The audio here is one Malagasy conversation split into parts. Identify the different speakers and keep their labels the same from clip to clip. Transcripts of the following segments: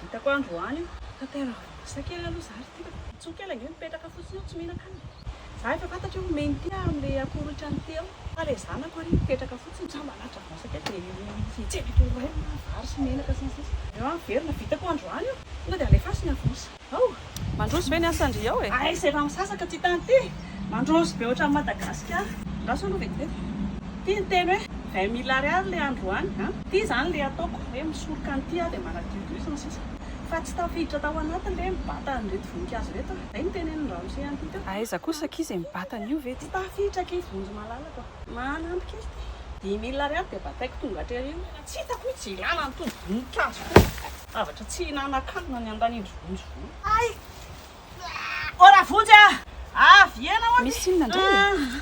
Speaker 1: Vitako androany fa te ranomanitra kely aloha za ry ty fa tsoa kely ange mipetraka fotsiny eo tsy mihinan-kanina. Za efa fantatra hoe omeny ty aho amin'ilay akora ohatran'ny ty eo fa ilay zanako ary mipetraka fotsiny za mba hanatitra vasa kely dia mitsena eto ho rainina vary sy menaka sy ny sisa. Aleo averina. Vitako androany io. Tonga dia alefaso ny avosa. Ao! Mandroso ve ny asan-dry ao e? Aiza efa misasaka ty tany ty? Mandroso be ohatran'i Madagasikara. Andraso aloha vetivety ty ny teny hoe vingt mille ariary le androany an! Ty zany le ataoko hoe misoroka an'ity aho dia manadio io sy ny sisa Fa tsy tafiditra tao anatiny le mibata an'ireto voninkazo ireto an! Zay ny tenenin'i ramose an'ity teo. Aiza kosa akia izay mibata an'io ve ty? Tsy tafiditra akia vonjy malalako an! Manampy kely ty. Dimy mille ariary dia bataiko tonga aty aoriana. Tsy hitako mihitsy ilana an'itony voninkazo itony. Zavatra tsy hihinanankanina ny andanindry vonjy vo. Ay! Oh ravonjy ah! Avy iena hono! Misy inona indray e?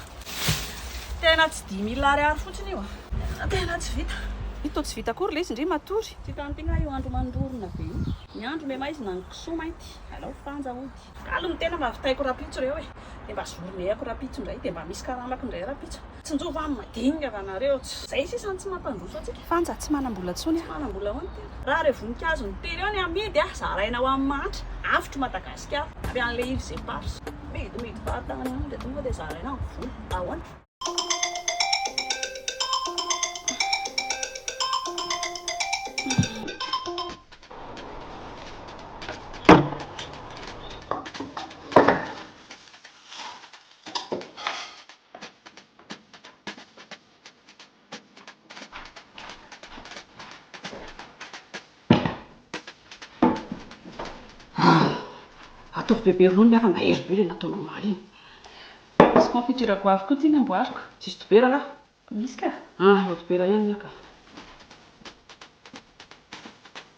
Speaker 1: Tena tsy dimy mille ariary fotsiny io ah! Tena tsy vita! Io toa tsy vita akory ilay izy ndry matory! Tsy hitan'ity ngah io andro mandorona be io? Ny andro memaizina ny kisoa mainty alao fanja hody. Galy ny tena mba vitaiko rapitso reo e! Dia mba zoronehako rapitso indray dia mba misy karamako indray rapitso. Tsinjovy an, madinika va nareo tsy. Zay sisa no tsy mampandroso antsika. Fanja tsy manambola tsony a. Tsy manambola hono tena. Raha reo voninkazo ny tery eo ny amidy a zaraina ho an'ny mahantra. Avotro Madagasikara. Avy any le îles éparses. Midy midy fahatany any le tonga de zaraina ny vola. Ahoana. Ataovy bebe ronono ary mahery be ilay nataonao omaly iny. Misy confiture goavy koa ity namboariko. Tsisy dobera ra? Misy ka. Ah, eo dobera ihany ny ahy ka.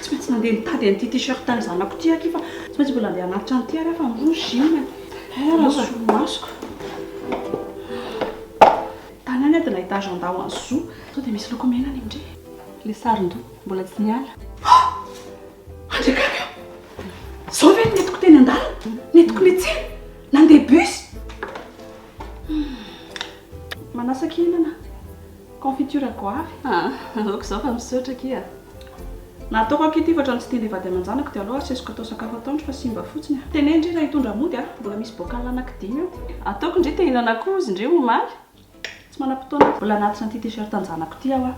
Speaker 1: Tsy maintsy mandeha mitady an'ity t-shirt an'ny zanako ity aky fa tsy maintsy mbola andeha hanatitra an'ity ary aho fa miroso gym e. Hay raha solomasoko. Tany any aho dia nahita agenda ho an'ny zo. Sao dia misy loko mena any amin-dry. Ilay sarin-doha mbola tsy niala. Ah! Andriakaka a! Izao ve no nentiko teny an-dalana? Nentiko niantsena? Nandeha bus? Manasa kihinana. Confiture goavy? Ahh aoka izao fa misaotra akia a! Nataoko akia ity fa otrany tsy tian'ilay vady aman-janako dia alou asesiko atao sakafo atoandro fa simba fotsiny a! Teneno ndry raha hitondra mody a! Mbola misy bocal anaky dimy eo. Ataoko ndry te-hihinana koa ozy ndry omaly. Tsy manam-potoana aho. Mbola anatiny ity t-shirt an-janako ity aho a!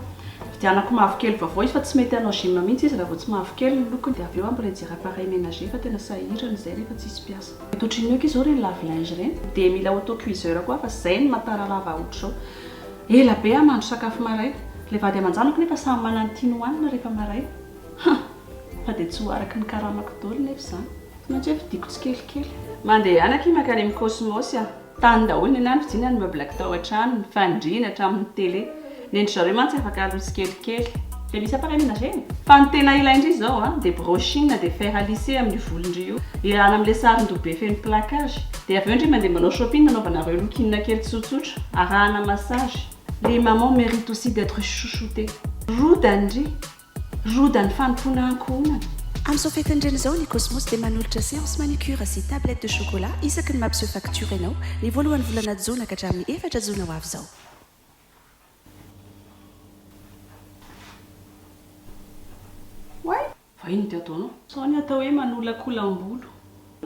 Speaker 1: Vidianako mavokely vaovao izy fa tsy mety hanao gym mihitsy izy raha vao tsy mavokely ny lokony dia avy eo aho mbola hijery appareil ménager fa tena sahirana izay rehefa tsisy mpiasa. Mety ohatrin'ny ok izao ireny lave linge ireny dia mila auto cuiseur koa aho fa izay no mahataralava ohatr'izao. Ela be aho no nandro sakafo maraina. Ilay vady aman-janako nefa samy manana ny tiany hohanina rehefa maraina. Ha! Fa dia tsy ho araka ny karamako daholo nefa izany. Tsy maintsy hoe fidiko tsikelikely. Mandehana akia mankany amin'ny Cosmos aho. Tany daholo ny ahy ny fidina ny meubles tao an-trano, ny fandriana hatramin'ny tele. Ny an-dry zareo mantsy afaka aloha tsikelikely. Dia misy appareil menager? Fa ny tena ilain-dry izao dia brushing dia fer à lisser amin'io volon-dry io. Irahana amin'ilay sarin-doha be feno plaquage. Dia avy eo ndry mandeha manao shopping anaovanareo look-in kely tsotsotra, arahana massage. Les mamans méritent aussi d'etre chouchoutee. Roda ndry! Roda ny fanompoana ankohonana. Amin'izao
Speaker 2: fetin'ny reny izao, ny Cosmos dia manolotra séance manucure sy tablette de chocolat isaky ny mampiseho facture ianao, ny voalohan'ny volana Jona ka hatramin'ny efatra Jona ho avy izao.
Speaker 1: Oay! Fa inona ity ataonao? Sao ny atao hoe manolakolam-bolo.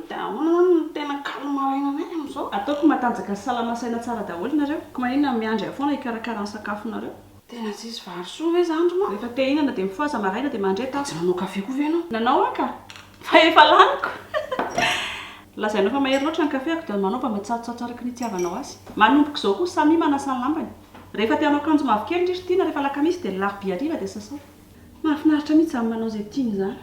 Speaker 1: Dia ahoana izany no tena kalo maraina anay amin'izao? Ataoko matanjaka sy salama saina tsara daholo nareo. Ka maninona no miandry ahy foana hikarakara ny sakafonareo? Tena tsisy vary soa ve izany ry ma? Rehefa te hihinana dia mifohaza maraina dia mandre tafo. Tsy nanao kafe koa ve ianao? Nanao aho ka! Fa efa laniko! Lazainao fa mahery loatra ny kafeko dia manao mba matsatsotsatso araka ny itiavanao azy. Manomboka izao koa Samy manasa ny lambany. Rehefa te hanao akanjo mavokely ndry ry Tiana rehefa alakamisy dia alarobia hariva dia sasao. Mahafinaritra mihitsy izany manao izay tiany izany.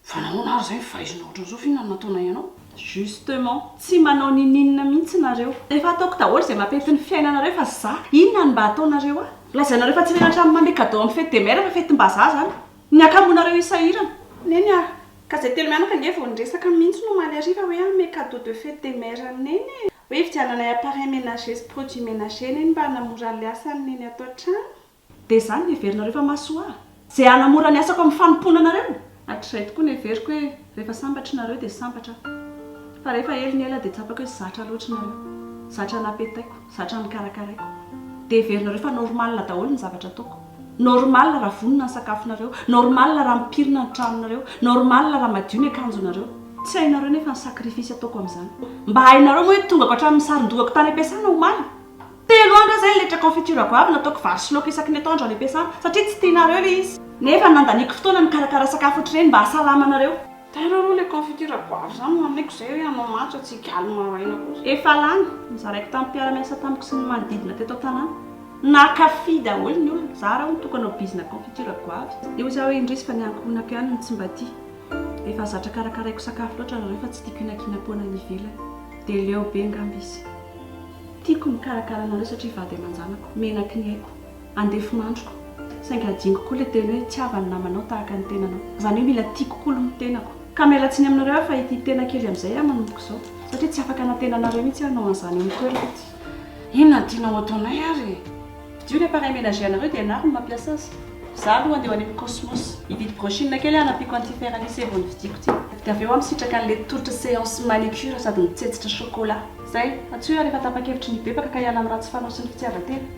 Speaker 1: Fa nahoana ary izay mivaizina ohatran'izao f'inona no nataonay anao? Justement, tsy manao ninininona mihitsy nareo. Efa ataoko daholo izay mampety ny fiainanareo fa za inona no mba ataonareo ahy? Lazainareo fa tsy menatra amin'ny manome cadeau amin'ny fete des mères fa fetim-bazaha izany. Ny hakamoanareo hisahirana. Neny ah! Kazay telo mianaka ange vao niresaka mihintsy omaly hariva hoe hanome cadeau de fete de mère an'i Neny e! Hoe hividiananay appareil ménager sy produits ménager Neny mba hanamora an'ilay asan'i Neny ato an-trano. Dia izany no heverinareo fa mahasoa ahy? Izay hanamora ny asako amin'ny fanompoana anareo? Hatrizay tokoa no heveriko hoe rehefa sambatra nareo dia sambatra aho. Fa rehefa ela ny ela dia tsapako hoe zatra loatra nareo. Zatra an'apetaiko. Zatra ny karakaraiko. Dia heverinareo fa normal daholo ny zavatra ataoko. Normal raha vonona ny sakafonareo. Normal raha mipirina ny tranonareo. Normal raha madio ny akanjonareo. Tsy hainareo nefa ny sacrifice ataoko amin'izany. Mba hainareo moa hoe tongako hatramin'ny saron-dohako tany am-piasana omaly. Telo andro aho izay niletra confiture goavy nataoko vary sy laoka isaky ny atoandro any am-piasana, satria tsy tianareo ilay izy. Nefa nandaniako fotoana nikarakara sakafo ohatr'ireny mba hahasalamanareo. Tara rô le coffee ity ragoavy zany no aneko zay hoe anao matso atsy higaly maraina koa. Efa lany, nozaraiko tamin'ny mpiara-miasa tamiko sy ny manodidina teto an-tanàna. Nankafy daholo ny olona. Za raha mitoka hanao bizina confiture goavy. Eo za hoe indrisy fa ny ankohonako ihany no tsy mba tia. Efa zatra karakaraiko sakafo loatra nareo fa tsy tiako inakinam-poana any ivelany. Dia leo be angamba izy. Tiako ny mikarakara anareo satria vady aman-janako. Menaky ny aiko. Andefin'androko. Saingy adinoko koa ilay teny hoe tsy havan'ny namanao tahaka ny tenanao. Izany hoe mila tiako koa aloha ny tenako. Ka miala tsiny aminareo aho fa ity tena kely amin'izay aho manomboka izao. Satria tsy afaka hanantena anareo mihitsy aho hanao an'izany eo amin'ny toerako ity. Inona no tianao hataonay ary e? Fidio ny appareil ménager anareo dia ianaro no mampiasa azy. Izaho aloha handeha ho any amin'ny Cosmos. Hividy brochine kely aho hanampiako an'ity fer à lisser vao novidiako ity. Dia avy eo aho misitraka an'ilay tolotra séance manicure sady mitsetsitra chocolat. Izay. Antsoy aho rehefa tapa-kevitra ny hibebaka ka hiala amin'ny ratsy fanao sy ny fitiavan-tena.